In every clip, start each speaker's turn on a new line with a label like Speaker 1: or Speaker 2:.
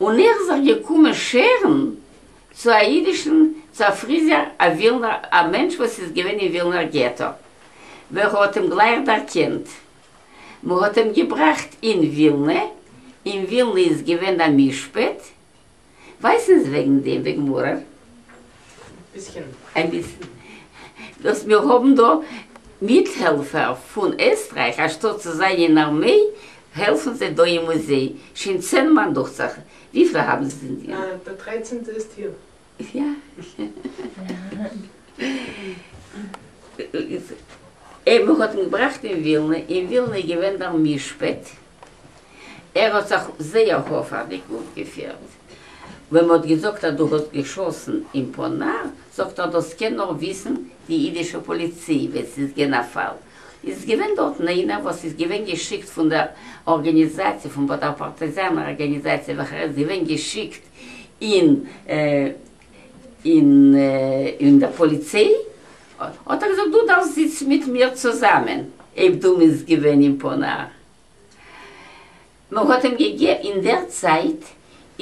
Speaker 1: און איך זיך געקומען שערן צו א אידישן צעפריזער א ווילנער א מענטש וואס איז געווען אין ווילנער געטא ווער האט אים גלייך דערקענט מען האט אים געבראכט אין ווילנע אין ווילנע איז געווען א משפט ווייסן ז וועגן דעם וועגן מרר אביסל. דאס מיר האבן דא מיטהעלפער פון עסטרייך, אנשטאט צו זיין אין ארמעי העלפן זיי דא אין מוזיי, שוין צען מאן דוכצעך, וויפיל האבן זיי דיר? אה, דער דרייצענטע איז טיעף. יא. מען האט אים געבראכט אין ווילנע, אין ווילנע איז געווען דער משפט, ער האט זיך זייער הופערדיג אויפגעפירט. ווען מ'האט געזאגט אז דו האסט געשאסן אין פאנאר, זאגט ער דאס קען נאר וויסן די אידישע פאליציי ווען ס'איז געוען א פאל. איז עס געווען דארטן איינער וואס איז געווען געשיקט פון דער ארגעניזאציע, פון דער פארטייזאנער ארגעניזאציע וועלכער איז געווען געשיקט אין און דער פּאָליצײ האָט אַ געזאָגט, דו דאַרפֿסט זיצן מיט מיר צוזאַמען, אױב דו מינסט געװען אין פּאָנאַר. מע האָט אים געגע אין דער צײַט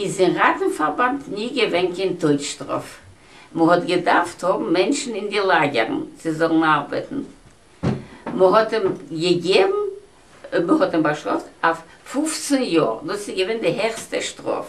Speaker 1: איז אין ראַטן-פֿאַרבאַנד ני געװען קײן טױטשטראָף. מע האָט געדאַרפֿט האָבן מענטשן אין די לאַגערן, זײ זאָלן אַרבעטן. מע האָט אים געגעבן, מע האָט אים באַשטראָפֿט אַף פֿופֿצן יאָר, דאָס איז געװען די העכסטע שטראָף.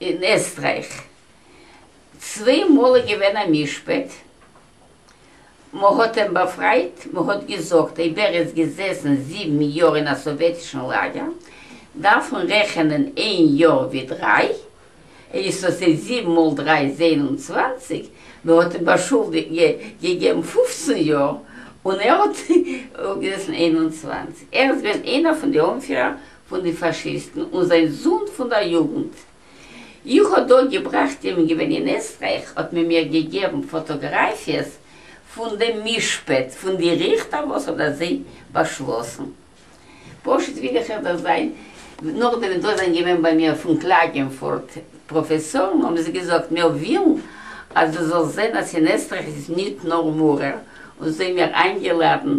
Speaker 1: אין עסטרייך צוויי מאל איז געווען א משפט, מ'האט אים באפרייט, מ'האט געזאגט אויב ער איז געזעסן זיבן יאר אין א סאוועטישן לאגער דארף מען רעכענען איין יאר ווי דריי, ער איז סא ס'איז זיבן מאל דריי איז איין און צוואנציג, מ'האט אים באשולדיגט געגעבן פופצן יאר און ער האט געזעסן איין און צוואנציג, ער איז געווען איינער פון די אנפירער פון די פאשיסטן און זיין זון פון דער יוגנט. איך האב דא געבראכט אים געווען אין עסטרייך האט מען מיר געגעבן פאטאגראפיעס פון דעם משפט פון די ריכטער וואס האט אזוי באשלאסן. פשוט וויל איך איך דאס זיין נאכדעם ווען דא זענען געווען ביי מיר פון קלאגענפורט פראפעסארן האבן זיי געזאגט מיר ווילן אז דו זאלסט זען אז אין עסטרייך איז ניט נאר מורא און זיי מיר איינגעלאדן